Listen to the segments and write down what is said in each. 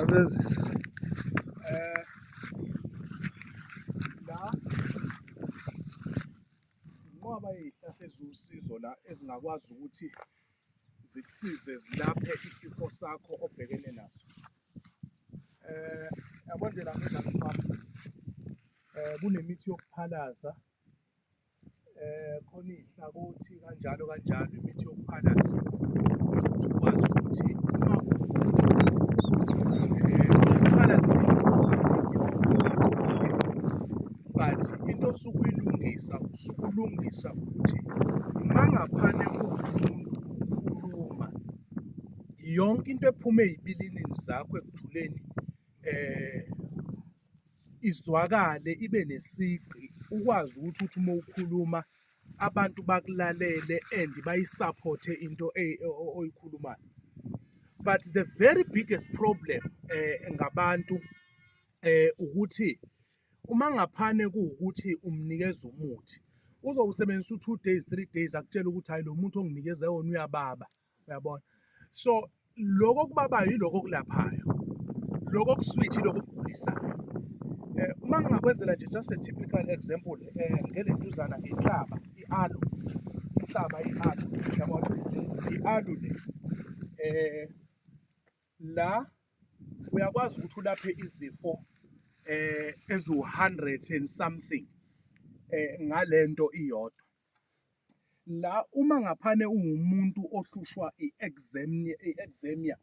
Abenzisa. Eh la ngoba izihlahla eziwusizo la ezingakwazi ukuthi zikusize zilaphe isifo sakho obhekene naso. Eh yabona nje la ngenza eh kunemithi yokuphalaza khona iy'hlakothi kanjalo kanjalo imithi yokuphalaza ukuthi ukwazi ukuthi but into osuke uyilungisa usuke ulungisa ukuthi uma ngaphane ukhuluma yonke into ephume ey'bilini zakho ekujuleni um izwakale ibe nesigqi ukwazi ukuthi uthi uma ukhuluma abantu bakulalele and bayisaphothe into e-, oyikhulumayo but the very biggest problem eh ngabantu eh ukuthi uma ngaphane kuwukuthi umnikeza umuthi uzowusebenzisa u-two days, three days akutshele ukuthi hhayi lo muthi onginikeze wona uyababa. uyabona so lokho okubabayo yiloko okulaphayo lokho okuswithi lokho okugulisayo eh, uma ngingakwenzela nje just a typical example eh, ngele ntuzana inhlaba i-alu inhlaba i-alu uyabona i-alu le eh la uyakwazi ukuthi ulaphe izifo eh ezu 100 and something eh ngalento iyodwa La uma ngaphane ungumuntu ohlushwa i-eczemia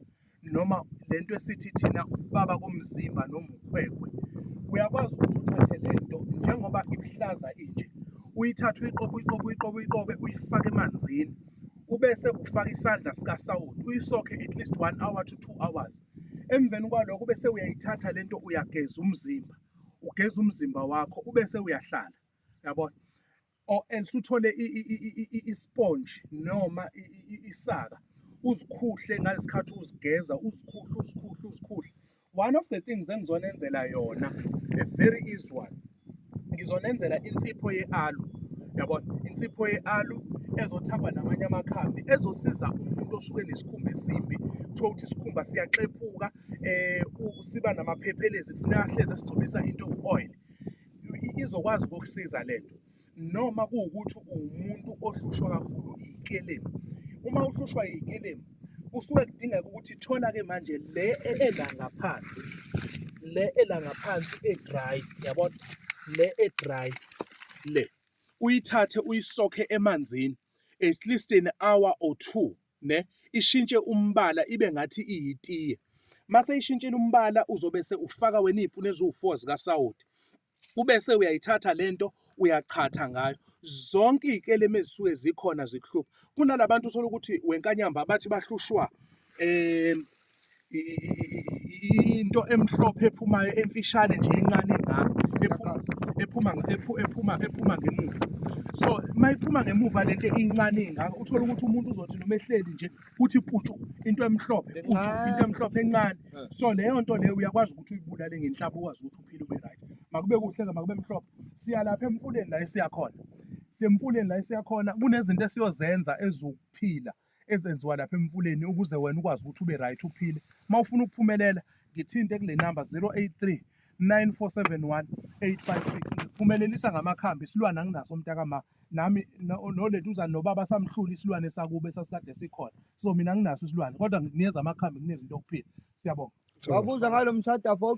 noma le nto esithi thina ukubaba komzimba noma ukhwekhwe, uyakwazi ukuthi uthathe le nto njengoba iluhlaza inje, uyithathe uyiqobe uyiqobe uyiqobe uyiqobe uyifake emanzini, ubese ufaka isandla sikasawoti uyisokhe at least one hour to two hours. Emveni kwalokho bese uyayithatha le nto uyageza umzimba, ugeza umzimba wakho ubese uyahlala, yabona? or else uthole isponge noma isaka uzikhuhle ngalesikhathi uzigeza uzikhuhle uzikhuhle uzikhuhle one of the things engizonenzela yona a very easy one ngizonenzela insipho ye-alu yabona insipho ye-alu ezothakwa namanye amakhambi ezosiza umuntu osuke nesikhumba esimbi kuthiwa ukuthi isikhumba siyaxephuka um siba namaphephelezi kufuneka ahlezi esigcobisa into ewu-oil izokwazi ukukusiza le nto noma kuwukuthi uwumuntu ohlushwa kakhulu ikelemu uma uhlushwa ikelemu kusuke kudingeka ukuthi thola-ke manje le ela ngaphansi le ela ngaphansi e-dry yabona le e-dry le uyithathe uyisokhe emanzini at least an hour or two ne ishintshe umbala ibe ngathi iyitiye mase ishintshile umbala uzobe se ufaka wena iy'puni eziwu-four zikasawoti ubese uyayithatha lento uyachatha ngayo zonke iy'kelemu ezisuke zikhona zikuhlupha kunalabantu uthola ukuthi wenkanyamba bathi bahlushwa um into emhlophe ephumayo emfishane nje encane engaka ephuma ephuma ephuma ngemuva so mayiphuma ngemuva lento incane engaka uthola ukuthi umuntu uzothi noma ehleli nje uthi putshu into emhlophe putshu into emhlophe encane eh. so leyo nto leyo uyakwazi ukuthi uyibulale ngenhlaba ukwazi ukuthi uphile ube right makube kuhle ke makube mhlophe siya lapha emfuleni la esiyakhona semfuleni la esiyakhona kunezinto esiyozenza ezokuphila ezenziwa lapha emfuleni ukuze wena ukwazi ukuthi ube right uphile uma ufuna ukuphumelela ngithinte kule namba 083 9471 856 ngiphumelelisa ngamakhambi isilwane anginaso mntakama nami noleduzane nobaba samhlula isilwane sakube sasikade sikhona so mina nginaso isilwane kodwa ngikunikeza amakhambi kunezinto okuphila siyabonga wabuza ngalo mshada fok